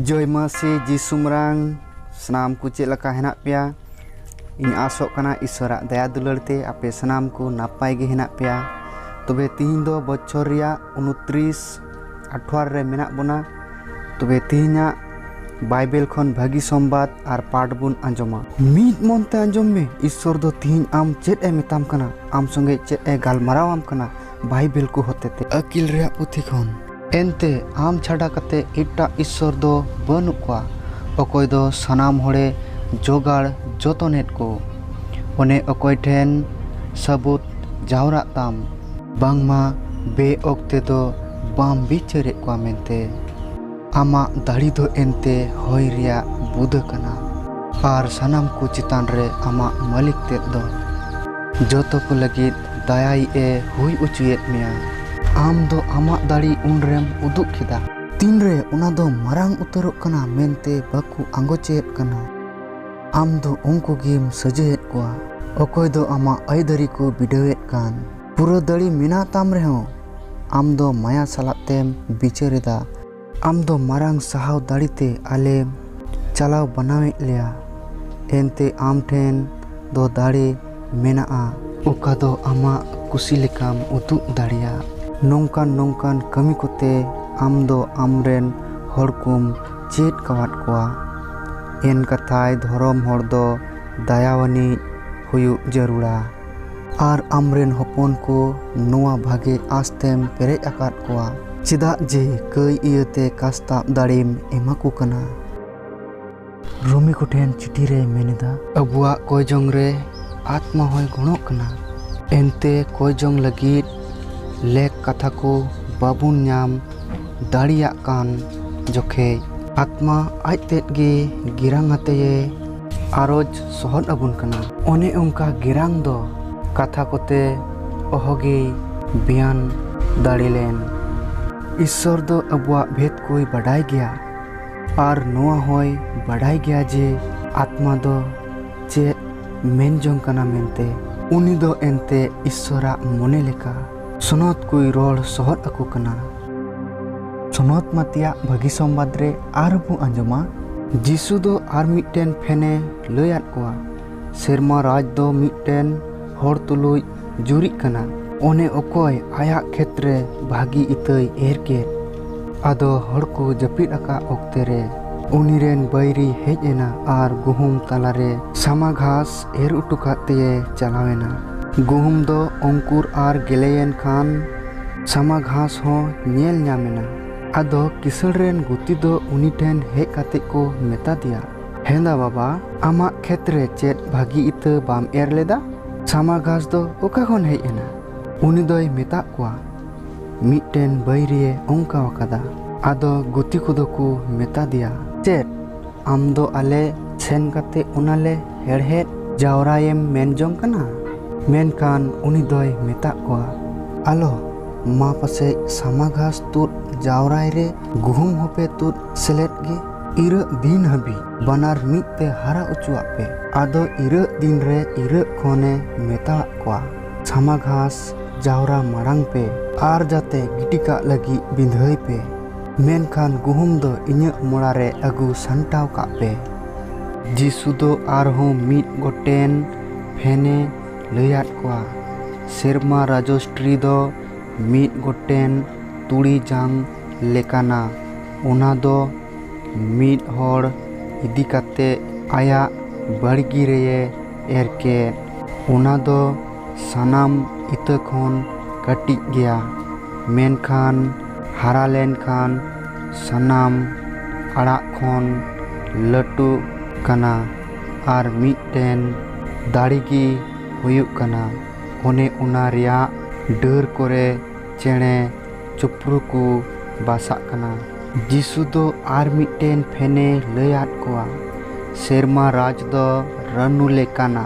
ᱡᱚᱭ ᱢᱟᱹᱥᱤ ᱡᱤᱥᱩᱢᱨᱟᱝ ᱥᱟᱱᱟᱢ ᱠᱚ ᱪᱮᱫ ᱞᱮᱠᱟ ᱦᱮᱱᱟᱜ ᱯᱮᱭᱟ ᱤᱧ ᱟᱥᱚᱜ ᱠᱟᱱᱟ ᱤᱥᱚᱨᱟᱜ ᱫᱟᱭᱟ ᱫᱩᱞᱟᱹᱲ ᱛᱮ ᱟᱯᱮ ᱥᱟᱱᱟᱢ ᱠᱚ ᱱᱟᱯᱟᱭ ᱜᱮ ᱦᱮᱱᱟᱜ ᱯᱮᱭᱟ ᱛᱚᱵᱮ ᱛᱤᱦᱤᱧ ᱫᱚ ᱵᱚᱪᱷᱚᱨ ᱨᱮᱭᱟᱜ ᱩᱱᱛᱨᱤᱥ ᱟᱴᱷᱣᱟᱨ ᱨᱮ ᱢᱮᱱᱟᱜ ᱵᱚᱱᱟ ᱛᱚᱵᱮ ᱛᱤᱦᱤᱧᱟᱜ ᱵᱟᱭᱵᱮᱞ ᱠᱷᱚᱱ ᱵᱷᱟᱹᱜᱤ ᱥᱚᱢᱵᱟᱫ ᱟᱨ ᱯᱟᱴ ᱵᱚᱱ ᱟᱸᱡᱚᱢᱟ ᱢᱤᱫ ᱢᱚᱱ ᱛᱮ ᱟᱸᱡᱚᱢ ᱢᱮ ᱤᱥᱚᱨ ᱫᱚ ᱛᱤᱦᱤᱧ ᱟᱢ ᱪᱮᱫ ᱮ ᱢᱮᱛᱟᱢ ᱠᱟᱱᱟ ᱟᱢ ᱥᱚᱸᱜᱮ ᱪᱮᱫ ᱮ ᱜᱟᱞᱢᱟᱨᱟᱣ ᱟᱢ ᱠᱟᱱᱟ ᱵᱟᱭᱵᱮᱞ ᱠᱚ ᱦᱚᱛᱮᱛᱮ ᱟᱹᱠᱤᱞ ᱨᱮᱭᱟᱜ ᱯᱩᱛᱷᱤ ᱠᱷᱚᱱ ᱮᱱᱛᱮ ᱟᱢ ᱪᱷᱟᱰᱟ ᱠᱟᱛᱮ ᱮᱴᱟᱜ ᱤᱥᱥᱚᱨ ᱫᱚ ᱵᱟᱹᱱᱩᱜ ᱠᱚᱣᱟ ᱚᱠᱚᱭ ᱫᱚ ᱥᱟᱱᱟᱢ ᱦᱚᱲᱮ ᱡᱚᱜᱟᱲ ᱡᱚᱛᱚᱱᱮᱫ ᱠᱚ᱾ ᱚᱱᱮ ᱚᱠᱚᱭ ᱴᱷᱮᱱ ᱥᱟᱹᱵᱩᱫᱽ ᱡᱟᱣᱨᱟᱜ ᱛᱟᱢ᱾ ᱵᱟᱝᱢᱟ ᱵᱮᱼᱚᱠᱛᱮ ᱫᱚ ᱵᱟᱢ ᱵᱤᱪᱟᱹᱨᱮᱫ ᱠᱚᱣᱟ ᱢᱮᱱᱛᱮ᱾ ᱟᱢᱟᱜ ᱫᱟᱲᱮ ᱫᱚ ᱮᱱᱛᱮ ᱦᱚᱭ ᱨᱮᱭᱟᱜ ᱵᱩᱫᱟᱹ ᱠᱟᱱᱟ᱾ ᱟᱨ ᱥᱟᱱᱟᱢ ᱠᱚ ᱪᱮᱛᱟᱱ ᱨᱮ ᱟᱢᱟᱜ ᱢᱟᱹᱞᱤᱠ ᱛᱮᱫ ᱫᱚ᱾ ᱡᱚᱛᱚ ᱠᱚ ᱞᱟᱹᱜᱤᱫ ᱫᱟᱭᱟᱭᱤᱡ ᱮ ᱦᱩᱭ ᱚᱪᱚᱭᱮᱫ ᱢᱮᱭᱟ᱾ ᱟᱢ ᱫᱚ ᱟᱢᱟᱜ ᱫᱟᱲᱮ ᱩᱱᱨᱮᱢ ᱩᱫᱩᱜ ᱠᱮᱫᱟ᱾ ᱛᱤᱱᱨᱮ ᱚᱱᱟ ᱫᱚ ᱢᱟᱨᱟᱝ ᱩᱛᱟᱹᱨᱚᱜ ᱠᱟᱱᱟ ᱢᱮᱱᱛᱮ ᱵᱟᱠᱚ ᱟᱸᱜᱚᱪᱮᱫ ᱠᱟᱱᱟ᱾ ᱟᱢ ᱫᱚ ᱩᱱᱠᱩ ᱜᱮᱢ ᱥᱟᱹᱡᱟᱹᱭᱮᱫ ᱠᱚᱣᱟ᱾ ᱚᱠᱚᱭ ᱫᱚ ᱟᱢᱟᱜ ᱟᱹᱭᱫᱟᱹᱨᱤ ᱠᱚ ᱵᱤᱰᱟᱹᱣᱮᱫ ᱠᱟᱱ᱾ ᱯᱩᱨᱟᱹ ᱫᱟᱲᱮ ᱢᱮᱱᱟᱜ ᱛᱟᱢ ᱨᱮᱦᱚᱸ᱾ ᱟᱢ ᱫᱚ ᱢᱟᱭᱟ ᱥᱟᱞᱟᱜ ᱛᱮᱢ ᱵᱤᱪᱟᱹᱨᱮᱫᱟ᱾ ᱟᱢ ᱫᱚ ᱢᱟᱨᱟᱝ ᱥᱟᱦᱟᱣ ᱫᱟᱲᱮ ᱛᱮ ᱟᱞᱮᱢ ᱪᱟᱞᱟᱣ ᱵᱟᱱᱟᱣᱮᱫ ᱞᱮᱭᱟ, ᱮᱱᱛᱮ ᱟᱢ ᱴᱷᱮᱱ ᱫᱚ ᱫᱟᱲᱮ ᱢᱮᱱᱟᱜᱼᱟ᱾ ᱚᱠᱟ ᱫᱚ ᱟᱢᱟᱜ ᱠᱩᱥᱤ ᱞᱮᱠᱟᱢ ᱩᱫᱩᱜ ᱫᱟᱲᱮᱭᱟᱜ᱾ ᱱᱚᱝᱠᱟᱱ ᱱᱚᱝᱠᱟᱱ ᱠᱟᱹᱢᱤ ᱠᱚᱛᱮ ᱟᱢ ᱫᱚ ᱟᱢ ᱨᱮᱱ ᱦᱚᱲ ᱠᱚᱢ ᱪᱮᱫ ᱠᱟᱣᱟᱫ ᱠᱚᱣᱟ᱾ ᱮᱱᱠᱟᱛᱷᱟᱭ ᱫᱷᱚᱨᱚᱢ ᱦᱚᱲ ᱫᱚ ᱫᱟᱭᱟᱣᱟᱱᱤᱡ ᱦᱩᱭᱩᱜ ᱡᱟᱹᱨᱩᱲᱟ᱾ ᱟᱨ ᱟᱢᱨᱮᱱ ᱦᱚᱯᱚᱱ ᱠᱚ ᱱᱚᱣᱟ ᱵᱷᱟᱜᱮ ᱟᱸᱥ ᱛᱮᱢ ᱯᱮᱨᱮᱡ ᱟᱠᱟᱫ ᱠᱚᱣᱟ᱾ ᱪᱮᱫᱟᱜ ᱡᱮ ᱠᱟᱹᱭ ᱤᱭᱟᱹᱛᱮ ᱠᱟᱥᱛᱟᱵ ᱫᱟᱲᱮᱢ ᱮᱢᱟ ᱠᱚ ᱠᱟᱱᱟ᱾ ᱨᱳᱢᱤ ᱠᱚ ᱴᱷᱮᱱ ᱪᱤᱴᱷᱤ ᱨᱮᱭ ᱢᱮᱱ ᱮᱫᱟ᱾ ᱟᱵᱚᱣᱟᱜ ᱠᱚᱭ ᱡᱚᱝ ᱨᱮ ᱟᱛᱢᱟ ᱦᱚᱸᱭ ᱜᱚᱲᱚᱜ ᱠᱟᱱᱟ᱾ ᱮᱱᱛᱮ ᱠᱚᱭ ᱡᱚᱝ ᱞᱟᱹᱜᱤᱫ ᱞᱮᱠ ᱠᱟᱛᱷᱟ ᱠᱚ ᱵᱟᱵᱚᱱ ᱧᱟᱢ ᱫᱟᱲᱮᱭᱟᱜ ᱠᱟᱱ ᱡᱚᱠᱷᱮᱡ᱾ ᱟᱛᱢᱟ ᱟᱡ ᱛᱮᱫ ᱜᱮ ᱜᱮᱨᱟᱝ ᱟᱛᱮᱭᱮ ᱟᱨᱚᱡᱽ ᱥᱚᱦᱚᱫ ᱟᱵᱚᱱ ᱠᱟᱱᱟ᱾ ᱚᱱᱮ ᱚᱱᱠᱟ ᱜᱮᱨᱟᱝ ᱫᱚ᱾ ᱠᱟᱛᱷᱟ ᱠᱚᱛᱮ ᱚᱦᱚᱜᱮᱭ ᱵᱮᱭᱟᱱ ᱫᱟᱲᱮ ᱞᱮᱱ᱾ ᱤᱥᱥᱚᱨ ᱫᱚ ᱟᱵᱚᱣᱟᱜ ᱵᱷᱮᱫᱽ ᱠᱚᱭ ᱵᱟᱰᱟᱭ ᱜᱮᱭᱟ ᱟᱨ ᱱᱚᱣᱟ ᱦᱚᱸᱭ ᱵᱟᱰᱟᱭ ᱜᱮᱭᱟ ᱡᱮ ᱟᱛᱢᱟ ᱫᱚ ᱪᱮᱫ ᱢᱮᱱ ᱡᱚᱝ ᱠᱟᱱᱟ ᱢᱮᱱᱛᱮ᱾ ᱩᱱᱤ ᱫᱚ ᱮᱱᱛᱮ ᱤᱥᱥᱚᱨᱟᱜ ᱢᱚᱱᱮ ᱞᱮᱠᱟ᱾ ᱥᱚᱱᱚᱛ ᱠᱚᱭ ᱨᱚᱲ ᱥᱚᱦᱚᱫ ᱟᱠᱚ ᱠᱟᱱᱟ᱾ ᱥᱚᱱᱚᱛ ᱢᱟ ᱛᱮᱭᱟᱜ ᱵᱷᱟᱹᱜᱤ ᱥᱚᱢᱵᱟᱫᱽ ᱨᱮ ᱟᱨᱦᱚᱸ ᱵᱚ ᱟᱸᱡᱚᱢᱟ᱾ ᱡᱤᱥᱩ ᱫᱚ ᱟᱨ ᱢᱤᱫᱴᱮᱱ ᱯᱷᱮᱱᱮ ᱞᱟᱹᱭ ᱟᱫ ᱠᱚᱣᱟ, ᱥᱮᱨᱢᱟ ᱨᱟᱡᱽ ᱫᱚ ᱢᱤᱫᱴᱮᱱ ᱦᱚᱲ ᱛᱩᱞᱩᱡ ᱡᱩᱨᱤᱜ ᱠᱟᱱᱟ᱾ ᱚᱱᱮ ᱚᱠᱚᱭ ᱟᱭᱟᱜ ᱠᱷᱮᱛ ᱨᱮ ᱵᱷᱟᱹᱜᱤ ᱤᱛᱟᱹᱭ ᱮᱨ ᱠᱮᱫ᱾ ᱟᱫᱚ ᱦᱚᱲ ᱠᱚ ᱡᱟᱹᱯᱤᱫ ᱟᱠᱟᱫ ᱚᱠᱛᱮ ᱨᱮ᱾ ᱩᱱᱤ ᱨᱮᱱ ᱵᱟᱹᱭᱨᱤ ᱦᱮᱡ ᱮᱱᱟ ᱟᱨ ᱜᱩᱦᱩᱢ ᱛᱟᱞᱟ ᱨᱮ ᱥᱟᱢᱟ ᱜᱷᱟᱥ᱾ ᱮᱨ ᱚᱴᱚ ᱠᱟᱫ ᱛᱮᱭᱮ ᱪᱟᱞᱟᱣᱮᱱᱟ᱾ ᱜᱩᱦᱩᱢ ᱫᱚ ᱚᱝᱠᱩᱨ ᱟᱨ ᱜᱮᱞᱮᱭᱮᱱ ᱠᱷᱟᱱ ᱥᱟᱢᱟ ᱜᱷᱟᱥ ᱦᱚᱸ ᱧᱮᱞ ᱧᱟᱢᱮᱱᱟ᱾ ᱟᱫᱚ ᱠᱤᱥᱟᱹᱬ ᱨᱮᱱ ᱜᱩᱛᱤ ᱫᱚ ᱩᱱᱤ ᱴᱷᱮᱱ ᱦᱮᱡ ᱠᱟᱛᱮ ᱠᱚ ᱢᱮᱛᱟ ᱫᱮᱭᱟ, ᱦᱮᱸᱫᱟ ᱵᱟᱵᱟ, ᱟᱢᱟᱜ ᱠᱷᱮᱛ ᱨᱮ ᱪᱮᱫ ᱵᱷᱟᱹᱜᱤ ᱤᱛᱟᱹ ᱵᱟᱢ ᱮᱨ ᱞᱮᱫᱟ? ᱥᱟᱢᱟ ᱜᱷᱟᱥ ᱫᱚ ᱚᱠᱟ ᱠᱷᱚᱱ ᱦᱮᱡ ᱮᱱᱟ? ᱩᱱᱤ ᱫᱚᱭ ᱢᱮᱛᱟᱫ ᱠᱚᱣᱟ, ᱢᱤᱫᱴᱮᱱ ᱵᱟᱹᱭᱨᱤᱭᱮ ᱚᱝᱠᱟ ᱟᱠᱟᱫᱟ᱾ ᱟᱫᱚ ᱜᱩᱛᱤ ᱠᱚᱫᱚ ᱠᱚ ᱢᱮᱛᱟ ᱫᱮᱭᱟ, ᱪᱮᱫ ᱟᱢ ᱫᱚ ᱟᱞᱮ ᱥᱮᱱ ᱠᱟᱛᱮ ᱚᱱᱟ ᱞᱮ ᱦᱮᱲᱦᱮᱫ ᱡᱟᱣᱨᱟᱭᱮᱢ ᱢᱮᱱ ᱡᱚᱝ ᱠᱟᱱᱟ ᱢᱮᱱᱠᱷᱟᱱ ᱩᱱᱤ ᱫᱚᱭ ᱢᱮᱛᱟᱜ ᱠᱚᱣᱟ ᱟᱞᱚ ᱢᱟ ᱯᱟᱥᱮᱡ ᱥᱟᱢᱟ ᱜᱷᱟᱥ ᱛᱩᱫ ᱡᱟᱣᱨᱟᱭ ᱨᱮ ᱜᱩᱦᱩᱢ ᱦᱚᱸᱯᱮ ᱛᱩᱫ ᱥᱮᱞᱮᱫ ᱜᱮ ᱤᱨᱟᱹᱜ ᱫᱤᱱ ᱦᱟᱹᱵᱤᱡ ᱵᱟᱱᱟᱨ ᱢᱤᱫ ᱛᱮ ᱦᱟᱨᱟ ᱚᱪᱚᱣᱟᱜ ᱯᱮ ᱟᱫᱚ ᱤᱨᱟᱹᱜ ᱫᱤᱱ ᱨᱮ ᱤᱨᱟᱹᱜ ᱠᱷᱚᱱ ᱮ ᱢᱮᱛᱟᱣᱟᱜ ᱠᱚᱣᱟ ᱥᱟᱢᱟ ᱜᱷᱟᱥ ᱡᱟᱣᱨᱟ ᱢᱟᱲᱟᱝ ᱯᱮ ᱟᱨ ᱡᱟᱛᱮ ᱜᱤᱰᱤ ᱠᱟᱜ ᱞᱟᱹᱜᱤᱫ ᱵᱤᱸᱫᱷᱟᱹᱭ ᱯᱮ ᱢᱮᱱᱠᱷᱟᱱ ᱜᱩᱦᱩᱢ ᱫᱚ ᱤᱧᱟᱹᱜ ᱢᱚᱲᱟ ᱨᱮ ᱟᱹᱜᱩ ᱥᱟᱢᱴᱟᱣ ᱠᱟᱜ ᱯᱮ᱾ ᱡᱤᱥᱩ ᱫᱚ ᱟᱨᱦᱚᱸ ᱢᱤᱫ ᱜᱚᱴᱮᱱ ᱯᱷᱮᱱ ᱮ ᱞᱟᱹᱭ ᱟᱫ ᱠᱚᱣᱟ᱾ ᱥᱮᱨᱢᱟ ᱨᱟᱡᱚᱥᱴᱨᱤ ᱫᱚ ᱢᱤᱫ ᱜᱚᱴᱮᱱ ᱛᱩᱲᱤ ᱡᱟᱝ ᱞᱮᱠᱟᱱᱟ, ᱚᱱᱟ ᱫᱚ ᱢᱤᱫ ᱦᱚᱲ ᱤᱫᱤ ᱠᱟᱛᱮ ᱟᱭᱟᱜ ᱵᱟᱲᱜᱤ ᱨᱮᱭᱮ ᱮᱨ ᱠᱮᱫ᱾ ᱚᱱᱟ ᱫᱚ ᱥᱟᱱᱟᱢ ᱤᱛᱟᱹ ᱠᱷᱚᱱ ᱠᱟᱹᱴᱤᱡ ᱜᱮᱭᱟ ᱢᱮᱱᱠᱷᱟᱱ ᱦᱟᱨᱟ ᱞᱮᱱᱠᱷᱟᱱ ᱥᱟᱱᱟᱢ ᱟᱲᱟᱜ ᱠᱷᱚᱱ ᱞᱟᱹᱴᱩᱜ ᱠᱟᱱᱟ ᱟᱨ ᱢᱤᱫᱴᱮᱱ ᱫᱟᱲᱮ ᱜᱮ ᱦᱩᱭᱩᱜ ᱠᱟᱱᱟ ᱚᱱᱮ ᱚᱱᱟ ᱨᱮᱭᱟᱜ ᱰᱟᱹᱨ ᱠᱚᱨᱮ ᱪᱮᱬᱮ ᱪᱤᱯᱨᱩ ᱠᱚ ᱵᱟᱥᱟᱜ ᱠᱟᱱᱟ᱾ ᱡᱤᱥᱩ ᱫᱚ ᱟᱨ ᱢᱤᱫᱴᱮᱱ ᱯᱷᱮᱱᱮ ᱞᱟᱹᱭ ᱟᱫ ᱠᱚᱣᱟ, ᱥᱮᱨᱢᱟ ᱨᱟᱡᱽ ᱫᱚ ᱨᱟᱹᱱᱩ ᱞᱮᱠᱟᱱᱟ᱾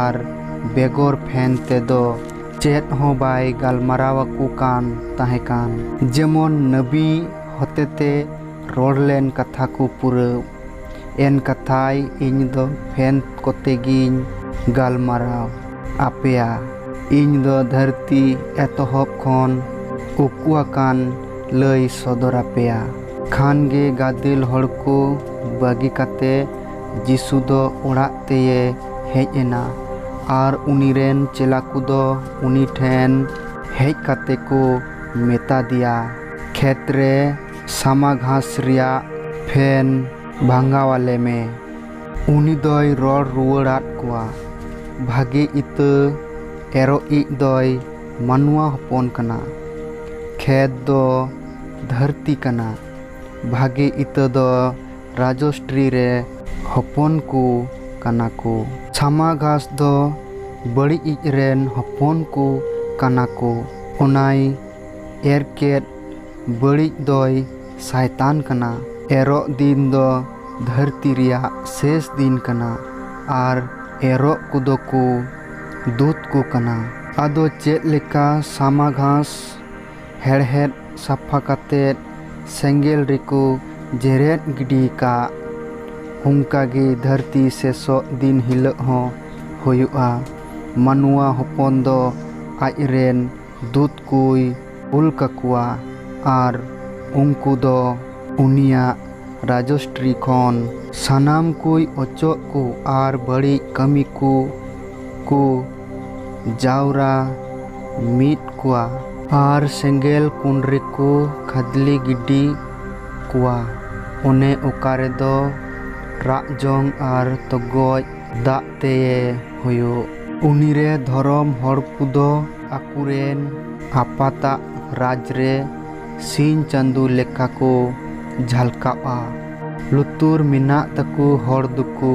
ᱟᱨ ᱵᱮᱜᱚᱨ ᱯᱷᱮᱱ ᱛᱮᱫᱚ ᱪᱮᱫ ᱦᱚᱸ ᱵᱟᱭ ᱜᱟᱞᱢᱟᱨᱟᱣ ᱟᱠᱚ ᱠᱟᱱ ᱛᱟᱦᱮᱸ ᱠᱟᱱ᱾ ᱡᱮᱢᱚᱱ ᱱᱟᱹᱵᱤ ᱦᱚᱛᱮᱛᱮ ᱨᱚᱲ ᱞᱮᱱ ᱠᱟᱛᱷᱟ ᱠᱚ ᱯᱩᱨᱟᱹᱣ ᱮᱱ ᱠᱟᱛᱷᱟᱭ ᱤᱧ ᱫᱚ ᱯᱷᱮᱱ ᱠᱚᱛᱮ ᱜᱤᱧ ᱜᱟᱞᱢᱟᱨᱟᱣ ᱟᱯᱮᱭᱟ᱾ ᱤᱧ ᱫᱚ ᱫᱷᱟᱹᱨᱛᱤ ᱮᱛᱚᱦᱚᱵ ᱠᱷᱚᱱ ᱩᱠᱩ ᱟᱠᱟᱱ ᱞᱟᱹᱭ ᱥᱚᱫᱚᱨ ᱟᱯᱮᱭᱟ᱾ ᱠᱷᱟᱱ ᱜᱮ ᱜᱟᱫᱮᱞ ᱦᱚᱲ ᱠᱚ ᱵᱟᱹᱜᱤ ᱠᱟᱛᱮ ᱡᱤᱥᱩ ᱫᱚ ᱚᱲᱟᱜ ᱛᱮᱭᱮ ᱦᱮᱡ ᱮᱱᱟ ᱟᱨ ᱩᱱᱤ ᱨᱮᱱ ᱪᱮᱞᱟ ᱠᱚ ᱫᱚ ᱩᱱᱤ ᱴᱷᱮᱱ ᱦᱮᱡ ᱠᱟᱛᱮ ᱠᱚ ᱢᱮᱛᱟ ᱫᱮᱭᱟ, ᱠᱷᱮᱛ ᱨᱮ ᱥᱟᱢᱟ ᱜᱷᱟᱥ ᱨᱮᱭᱟᱜ ᱯᱷᱮᱱ ᱵᱷᱟᱝᱜᱟᱣ ᱟᱞᱮ ᱢᱮ᱾ ᱩᱱᱤ ᱫᱚᱭ ᱨᱚᱲ ᱨᱩᱣᱟᱹᱲ ᱟᱫ ᱠᱚᱣᱟ, ᱵᱷᱟᱜᱮ ᱤᱛᱟᱹ ᱮᱨᱚᱜᱤᱡ ᱫᱚᱭ ᱢᱟᱱᱣᱟ ᱦᱚᱯᱚᱱ ᱠᱟᱱᱟ᱾ ᱠᱷᱮᱛ ᱫᱚ ᱫᱷᱟᱹᱨᱛᱤ ᱠᱟᱱᱟ, ᱵᱷᱟᱜᱮ ᱤᱛᱟᱹ ᱫᱚ ᱨᱟᱡᱚᱥᱴᱨᱤ ᱨᱮ ᱦᱚᱯᱚᱱ ᱠᱚ ᱠᱟᱱᱟ ᱠᱚ᱾ ᱪᱷᱟᱢᱟ ᱜᱷᱟᱥ ᱫᱚ ᱵᱟᱹᱲᱤᱡ ᱤᱡ ᱨᱮᱱ ᱦᱚᱯᱚᱱ ᱠᱚ ᱠᱟᱱᱟ ᱠᱚ᱾ ᱚᱱᱟᱭ ᱮᱨ ᱠᱮᱫ ᱵᱟᱹᱲᱤᱡ ᱫᱚᱭ ᱥᱟᱭᱛᱟᱱ ᱠᱟᱱᱟ᱾ ᱮᱨᱚᱜ ᱫᱤᱱ ᱫᱚ ᱫᱷᱟᱹᱨᱛᱤ ᱨᱮᱭᱟᱜ ᱥᱮᱥ ᱫᱤᱱ ᱠᱟᱱᱟ ᱟᱨ ᱮᱨᱚᱜ ᱠᱚᱫᱚ ᱠᱚ ᱫᱩᱛ ᱠᱚ ᱠᱟᱱᱟ᱾ ᱟᱫᱚ ᱪᱮᱫ ᱞᱮᱠᱟ ᱥᱟᱢᱟ ᱜᱷᱟᱥ ᱦᱮᱲᱦᱮᱫ ᱥᱟᱯᱷᱟ ᱠᱟᱛᱮ ᱥᱮᱸᱜᱮᱞ ᱨᱮᱠᱚ ᱡᱮᱨᱮᱫ ᱜᱤᱰᱤ ᱠᱟᱜ ᱚᱱᱠᱟ ᱜᱮ ᱫᱷᱟᱹᱨᱛᱤ ᱥᱮᱥᱚᱜ ᱫᱤᱱ ᱦᱤᱞᱳᱜ ᱦᱚᱸ ᱦᱩᱭᱩᱜᱼᱟ ᱢᱟᱱᱣᱟ ᱦᱚᱯᱚᱱ ᱫᱚ ᱟᱡ ᱨᱮᱱ ᱫᱩᱛ ᱠᱚᱭ ᱠᱩᱞ ᱠᱟᱠᱚᱣᱟ ᱟᱨ ᱩᱱᱠᱩ ᱫᱚ ᱩᱱᱤᱭᱟᱜ ᱨᱟᱡᱚᱥᱴᱨᱤ ᱠᱷᱚᱱ ᱥᱟᱱᱟᱢ ᱠᱚᱭ ᱚᱪᱚᱜ ᱠᱚ ᱟᱨ ᱵᱟᱹᱲᱤᱡ ᱠᱟᱹᱢᱤ ᱠᱚ ᱠᱚ ᱡᱟᱣᱨᱟ ᱢᱤᱫ ᱠᱚᱣᱟ᱾ ᱟᱨ ᱥᱮᱸᱜᱮᱞ ᱠᱩᱸᱰ ᱨᱮᱠᱚ ᱠᱷᱟᱫᱽᱞᱤ ᱜᱤᱰᱤ ᱠᱚᱣᱟ᱾ ᱚᱱᱮ ᱚᱠᱟ ᱨᱮᱫᱚ ᱨᱟᱜ ᱡᱚᱝ ᱟᱨ ᱛᱚᱜᱚᱡ ᱫᱟᱜ ᱛᱮᱭᱮ ᱦᱚᱭᱚᱜ᱾ ᱩᱱᱤ ᱨᱮ ᱫᱷᱚᱨᱚᱢ ᱦᱚᱲ ᱠᱚᱫᱚ ᱟᱠᱚ ᱨᱮᱱ ᱟᱯᱟᱛᱟᱜ ᱨᱟᱡᱽ ᱨᱮ ᱥᱤᱧ ᱪᱟᱸᱫᱚ ᱞᱮᱠᱟ ᱠᱚ ᱡᱷᱟᱞᱠᱟᱣᱜᱼᱟ᱾ ᱞᱩᱛᱩᱨ ᱢᱮᱱᱟᱜ ᱛᱟᱠᱚ ᱦᱚᱲ ᱫᱚᱠᱚ᱾